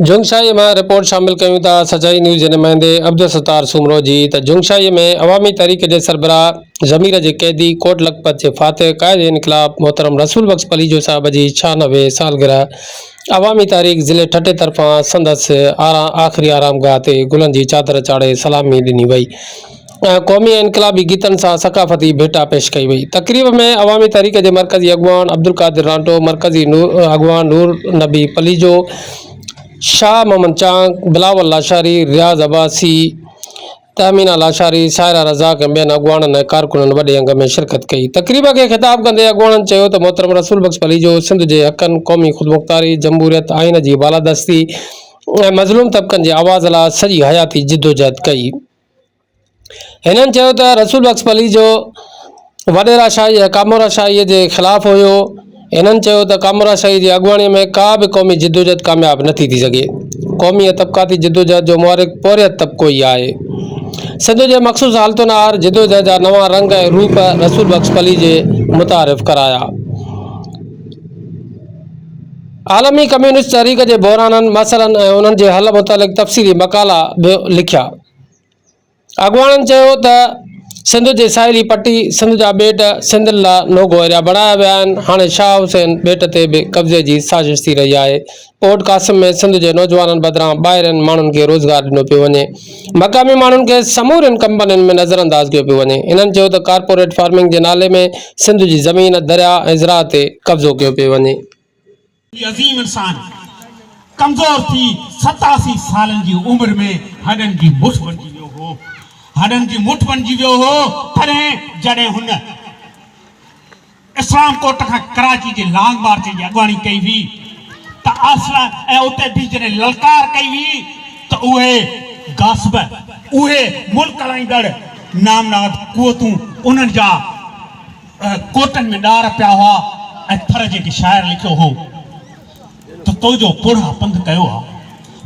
جھنگشاھيء مان رپورٽ شامل ڪيون ٿا سچائي نيوز جي نمائندي عبدالستار سومرو جي ته جھنگشاھيء ۾ عوامي تحريڪ جي سربراھ ضمير جي قيدي ڪوٽ لکپت جي فاتح قائد انقلاب محترم رسول بخش پليجو صاحب جي ڇھانوي سالگرهه عوامي تحريڪ ضلعي ٺٽي طرفان سندس آخري آرامگاھ تي گلن جي چادر چاڙهي سلامي ڏني وئي قومي ۽ انقلابي گيتن سان ثقافتي ڀيٽا پيش ڪئي وئي. تقريب ۾ عوامي تحريڪ جي مرڪزي اڳواڻ عبدالقادر رانٽو، مرڪزي اڳواڻ نور نبي پليجو، شاهه محمد چانگ، بلاول لاشاري، رياض عباسي، تهمينا لاشاري، سائره رزاق ۽ ٻين اڳواڻن ۽ ڪارڪنن وڏي انگ ۾ شرڪت ڪئي. تقريب کي خطاب ڪندي اڳواڻن چيو ته محترم رسول بخش پليجو سنڌ جي حقن، قومي خودمختاري، جمهوريت، آئين جي بالادستي ۽ مظلوم طبقن جي آواز لاء سڄي حياتي جدوجهد ڪئي. هنن چيو ته رسول بخش پليج جو وڏيرا شاهي ۽ ڪامورا شاهي جي خلاف هيو. هنن چيو ته ڪامورا شاهي جي اڳواڻي ۾ ڪا به قومي جدوجهد ڪامياب نه ٿي ٿي سگهي. قومي ۽ طبقاتي جدوجهد جو محرڪ پورهيت طبقو ئي آهي. سنڌ جي مخصوص حالتن آهر جدوجهد جا نوان رنگ ۽ روپ رسول بخش پليجي متعارف ڪرايا. عالمي ڪميونسٽ تحريڪ جي بحرانن، مسئلن ۽ انهن جي حل متعلق تفصيلي مقالا به لکيا. اڳواڻن چيو ته سنڌ جي ساحلي پٽي، سنڌ جا ٻيٽ سنڌين لاء نوگو ايريا بڻايا ويا آهن، هاڻي شاهه حسين ٻيٽ تي به قبضي جي سازش ٿي رهي آهي، پورٽ قاسم ۾ سنڌ جي نوجوانن بدران ٻاهرين ماڻهن کي روزگار ڏنو پيو وڃي، مقامي ماڻهن کي سمورين ڪمپنين ۾ نظر انداز ڪيو پيو وڃي، انهن چيو ته ڪارپوريٽ فارمنگ جي نالي ۾ سنڌ جي زمين، درياء ۽ زراع تي قبضو ڪيو پيو وڃي. هي عظيم انسان ڪمزور ٿي ستاسي سالن جي عمر ۾ هڏن جي مٺ بڻجي ويو هو. هڏن جي مٺ بڻجي ويو هو تڏهن جڏهن هن. اسلام ڪوٽ کان ڪراچي جي لانگ مارچ جي اڳواڻي ڪئي هئي ته آسرا ۽ اتي به جڏهن للڪار ڪئي هئي ته اهي غاصب اهي ملڪ هلائيندڙ نامناد قوتون انهن جا ڪوٽن ۾ ڏار پيا هئا ۽ ٿر جيڪي شاعر لکيو هو ته تو جو پوڙها پنڌ ڪيو آ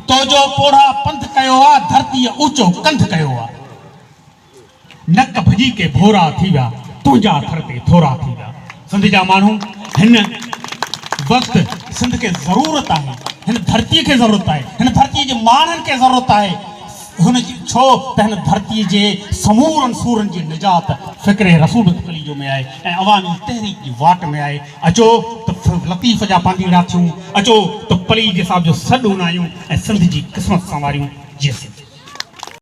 تو جو پوڙها پنڌ ڪيو آ ڌرتيء اوچو ڪنڌ ڪيو آ نڪ ڀڄي ڪي ڀورا ٿي ويا، تنهنجا ٿر تي ٿورا ٿي ويا. سنڌ جا ماڻهو هن وقت سنڌ کي ضرورت آهي، هن ڌرتي کي ضرورت آهي، هن ڌرتي جي ماڻهن کي ضرورت آهي، هن جي ڇو ته هن ڌرتي جي سمورن سورن جي نجات فڪر رسول تخليجو ۾ آهي ۽ عوامي تحريڪ جي واٽ ۾ آهي. اچو ته لطيف جا پانڌيئڙا ٿيون، اچو ته پليجي صاحب جو سڏ اونايون ۽ سنڌ جي قسمت سنواريون. جي سنڌ.